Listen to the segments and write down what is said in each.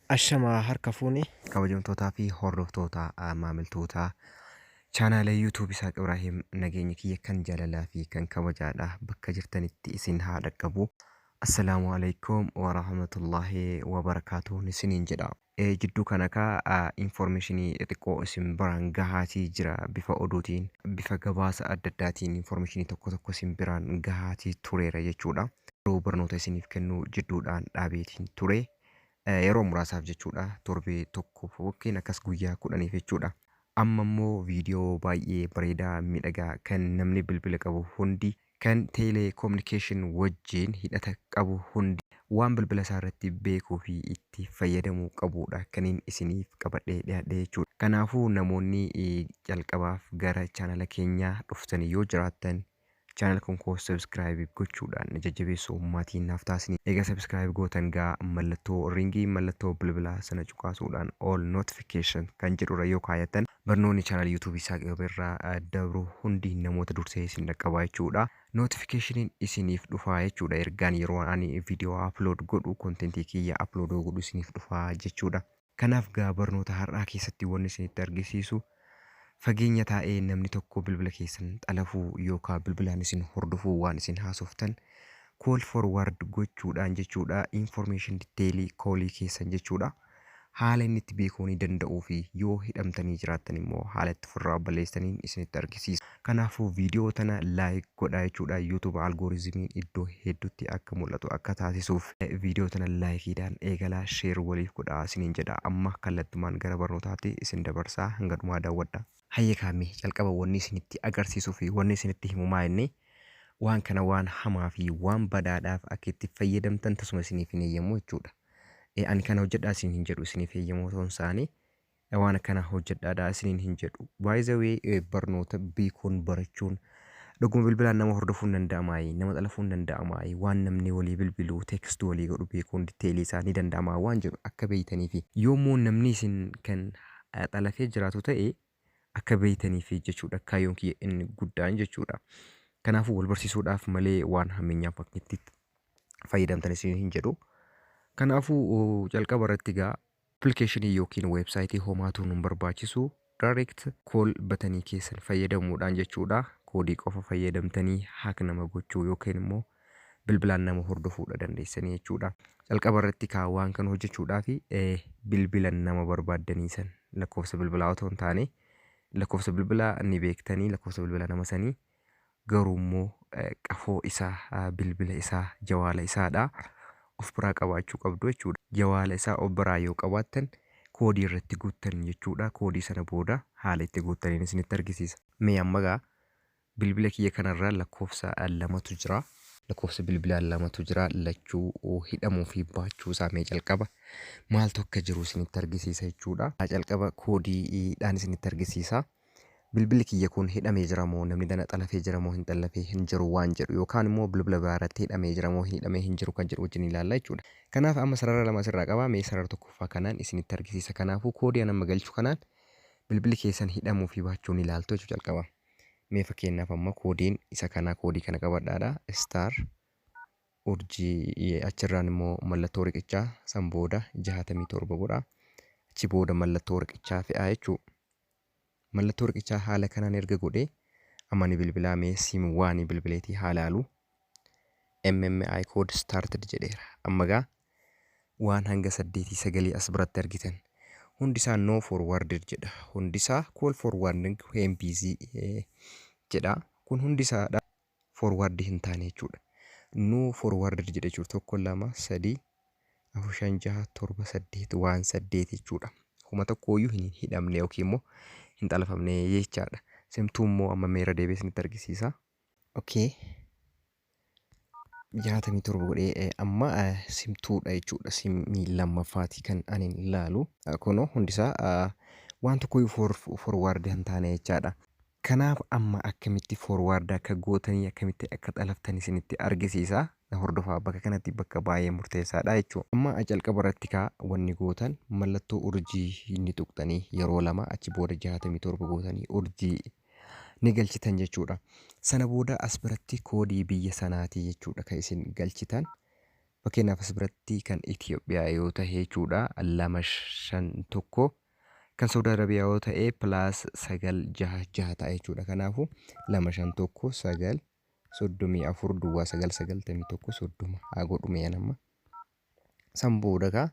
Ashamaa harka fuune kabajamtootaa fi hordoftoota maamiltootaa chaanaala YouTube isaa Ibrahim nageenya kiyya kan jaalalaa fi kan kabajaadha bakka jirtanitti isin haa dhaqqabu. Assalaamu alaikum wa rahmatullahi wa barakaatuun isiniin jedha. Jidduu kana kaa information xiqqoo isin biraan gahaatii jira bifa oduutiin, bifa gabaasa adda addaatiin information tokko tokko isin biraan gahaatii tureera jechuudha. Garuu barnoota isiniif kennu jidduudhaan dhaabeetiin ture. Yeroo muraasaaf jechuudha torbee tokkoof yookiin akkas guyyaa kudhaniif jechuudha. Amma immoo viidiyoo baay'ee bareedaa miidhagaa kan namni bilbila qabu hundi kan teeleekominikeeshin wajjiin hidhata qabu hundi waan bilbila isaa irratti beekuu fi itti fayyadamuu qabu dha kaniin isiniif qabadhee dhiyaadhe jechuudha. Kanaafuu namoonni calqabaaf gara chaanala keenyaa dhuftanii yoo jiraattan chaanala kan koo subscribe gochuudhaan na jajjabeessuu maatii naaf taasisni. Egaa subscribe gootan gaa mallattoo ringii mallattoo bilbilaa sana cuqaasuudhaan all notification keessan kan jedhu irra yoo kaayattan barnoonni channel YouTube isaa qabe irraa dabru hundi namoota dursee isin dhaqqabaa jechuudha. Notification isiniif dhufaa jechuudha ergaan yeroo ani video upload godhu content kiyya upload godhu isiniif dhufaa jechuudha. Kanaaf gaa barnoota har'aa keessatti wanni isinitti argisiisu fageenya taa'ee namni tokko bilbila keessan xalafuu yookaan bilbilaan isin hordofuu waan isin haasoftan call forward gochuudhaan jechuudha information detailii koolii keessan jechuudha. haala inni itti beekuunii danda'uu fi yoo hidhamtanii jiraattan immoo haala itti ofirraa balleessitaniin isinitti argisiisa. Kanaafuu viidiyoo tana like godhaa jechuudha YouTube algorizimiin iddoo heddutti akka mul'atu akka taasisuuf. Viidiyoo tana like dhaan eegalaa share waliif godhaa isiniin jedha. Amma kallattumaan gara barnootaatti isin dabarsa hanga dhumaa daawwadhaa. Hayyee kaa mee calqaba wanni isinitti agarsiisuu fi wanni isinitti himu maa inni waan kana waan hamaa fi waan badaadhaaf akka itti fayyadamtan tasuma isiniif hin heeyyamu jechuudha. E ani kana hojjedhaa isin hin jedhu isiniif eeyyamoo ta'uun isaanii e, waan akkanaa hojjedhaadhaa isiniin hin jedhu. By the way e, barnoota beekuun barachuun dhuguma bilbilaan nama hordofuun danda'amaayi, nama xalafuun danda'amaayi, waan namni walii bilbiluu, text walii godhu beekuun detailii isaa ni danda'amaa waan jedhu akka beeytaniifi. Yoo immoo namni isin kan xalafee jiraatu ta'e Akka beeytaniif jechuudha kaayyoon kiyya inni guddaan jechuudha. Kanaafuu wal barsiisuudhaaf malee waan hammeenyaaf akka itti fayyadamtan isin hin jedhu. Kanaafuu calqaba irratti egaa appilikeeshinii yookiin weebsaayitii homaatuu nun barbaachisu direct call batanii keessan fayyadamuudhaan jechuudha koodii qofa fayyadamtanii haak nama gochuu yookiin immoo bilbilaan nama hordofuudha dandeessanii jechuudha. Calqaba irratti kaa waan kan hojjechuudhaaf bilbilan nama barbaaddanii san lakkoofsa bilbilaa otoo hin taane lakkoofsa bilbilaa ni beektanii lakkoofsa bilbila nama sanii garuu immoo qafoo isaa bilbila isaa jawaala isaadha of biraa qabaachuu qabdu jechuudha. Jawaala isaa of biraa yoo qabaattan koodii irratti guuttan jechuudha. Koodii sana booda haala itti guuttaniin isinitti argisiisa. Mee amma gaa Bilbila kiyya kanarra lakkoofsa lamatu jira. Lakkoofsa bilbilaa lamatu jira. Lachuu hidhamuu fi baachuu isaa mee calqaba maaltu akka jiru isinitti argisiisa jechuudha. Calqaba koodiidhaan isinitti argisiisa. Bilbilli kiyya kun hidhamee jira moo namni dana xalafee jira moo hin xallafee hin jiru waan jedhu yookaan immoo bilbila biraa irratti hidhamee jira moo hin hidhamee hin jiru kan jedhu wajjin ilaalla jechuudha. Kanaaf amma sarara lama asirraa qaba mee sarara tokkoffaa kanaan isinitti argisiisa. Kanaafuu koodii an amma galchu kanaan bilbilli keessan hidhamuu fi baachuu ni ilaaltu jechuudha calqaba. Mee fakkeenyaaf amma koodiin isa kanaa koodii kana qabadhaadha. Star urjii achirraan immoo mallattoo riqichaa san booda jaatamii torba godha. Achi booda mallattoo riqichaa fe'aa jechuudha. Mallattoo riqichaa haala kanaan erga godhee amma ni bilbilaa mee sim waanii bilbileetii haalaalu. MMI code started jedheera. Amma gaa Waan hanga saddeetii sagalii as biratti argitan hundisaa no forwarded jedha. Hundisaa call forwarding when busy jedha. Kun hundisaadha forward hin taane jechuudha. No forwarded jedha jechuudha. Tokko lama sadii afur shan jaha torba saddeet waan saddeet jechuudha. Kuma tokkooyyuu hin hidhamne yookiin immoo hin xalafamne jechaadha. Simtuu immoo amma meera deebi'ee isinitti argisiisa. Okay. 67 godhee amma simtuudha jechuudha simmii lammaffaati kan ani laalu kunoo hundisaa waan tokko forwaardi hin taane jechaadha kanaaf amma akkamitti forwaardi akka gootanii akkamitti akka xalaftan isinitti argisiisa na hordofaa bakka kanatti bakka baay'ee murteessaadha jechuudha amma jalqaba irratti kaa wanni gootan mallattoo urjii inni tuqxanii yeroo lama achi booda 67 gootanii urjii ni galchitan jechuudha. Sana booda as biratti koodii biyya sanaatii jechuudha kan isin galchitan. Fakkeenyaaf as biratti kan Itoophiyaa yoo ta'e jechuudha lama shan tokko kan Saudi Arabiyaa yoo ta'e plus sagal jaha jaha ta'a jechuudha. Kanaafuu lama shan tokko sagal soddomii afur duwwaa sagal sagaltamii tokko soddoma haa godhume nama. San booda kaa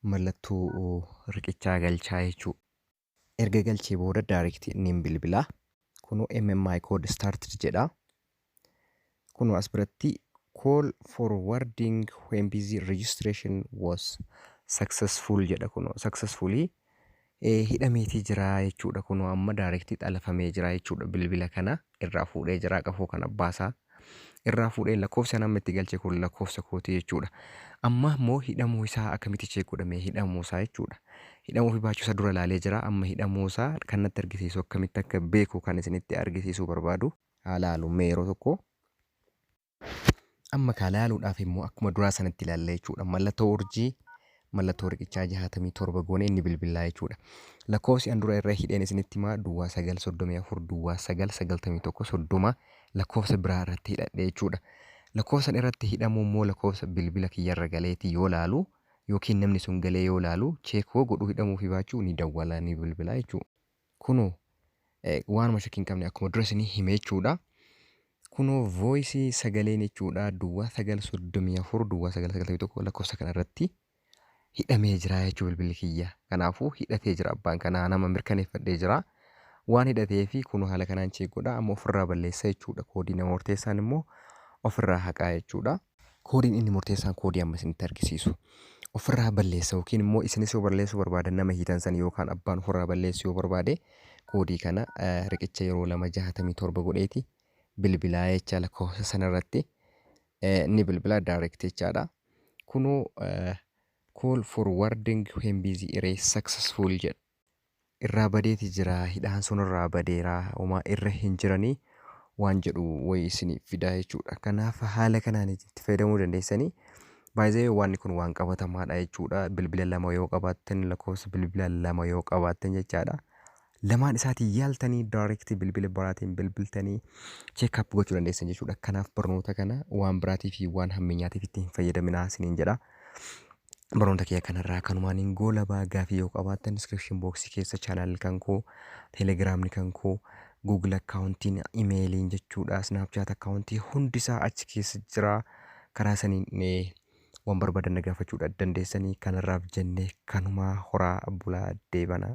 mallattoo riqichaa galchaa jechuudha. Erga galchee booda direct nin bilbila. Kunoo MMI code started jedha. Kunoo as biratti call forwarding when busy registration was successful jedha kunoo successfully hidhameetii jira jechuudha kunoo amma direct xalafamee jira jechuudha bilbila kana. irraa fuudhee jiraa qafoo kan abbaa isaa irraa fuudhee lakkoofsi anamma itti galche kun lakkoofsa kooti jechuudha. Amma immoo hidhamuu isaa akkamitti cheek godhame hidhamuu isaa jechuudha. Hidhamuu fi baachuu isaa dura laalee jira amma hidhamuu isaa kan natti argisiisu akkamitti akka beeku kan isinitti argisiisuu barbaadu. Haa laalu mee yeroo tokko. Amma kaa laaluudhaaf immoo akkuma duraa sanatti ilaalla jechuudha. Mallattoo urjii mallattoo riqichaa 67 goone inni bilbilaa jechuudha. Lakkoofsi an dura irra hidheen isinitti himaa duwwaa 934 duwwaa 991 30 lakkoofsa biraa irratti hidhadhe jechuudha. Lakkoofsan irratti hidhamuu immoo lakkoofsa bilbila kiyyarra galeeti yoo laalu yookiin namni sun galee yoo laalu cheekoo godhuu hidhamuu fi baachuu ni dawwala ni bilbilaa jechuudha. Kunoo waanuma shakkii hin qabne akkuma dura isinii hime jechuudha. Kunoo voice sagaleen jechuudha duwwaa 934 duwwaa 991 lakkoofsa kana irratti hidhamee jira jechuu bilbilli kiyya. Kanaafuu hidhatee jira abbaan kanaa nama mirkaneeffadhee jira. Waan hidhatee fi kunoo haala kanaan cheek godha amma ofirraa balleessa jechuudha. Koodii nama murteessaan immoo ofirraa haqaa jechuudha. Koodiin inni murteessaan koodii amma isinitti argisiisu. Ofirraa balleessa yookiin immoo isinis yoo balleessuu barbaadan nama hiitan sani yookaan abbaan ofirraa balleessu yoo barbaade koodii kana eh, riqicha yeroo lama jahatamii torba godheeti bilbilaa jecha lakkoofsa sana irratti eh, ni bilbila direct jechaadha. Kunoo eh, call for wording when busy erase successful jedha. irraa badeeti jira hidhaan sun irraa badeera homaa irra hin jiranii waan jedhu wayi isiniif fidaa jechuudha kanaaf haala kanaan itti fayyadamuu dandeessanii baay'ee waan kun waan qabatamaadha jechuudha bilbila lama yoo qabaattan lakkoofsa bilbila lama yoo qabaattan jechaadha lamaan isaatiin yaaltanii daayirektii bilbila biraatiin bilbiltanii cheekaap gochuu dandeessan jechuudha kanaaf barnoota kana waan biraatiif waan hammeenyaatiif itti hin fayyadaminaa isiniin jedha Barnoota kiyya kanarraa kanumaan hin goolabaa gaafii yoo qabaattan description box keessa channel kan koo telegramni kan koo google accountiin imeeliin jechuudha snapchat accountii hundisaa achi keessa jira karaa saniin eh, waan barbaadan na gaafachuudha dandeessanii kanarraaf jenne kanumaa horaa bulaa deebana.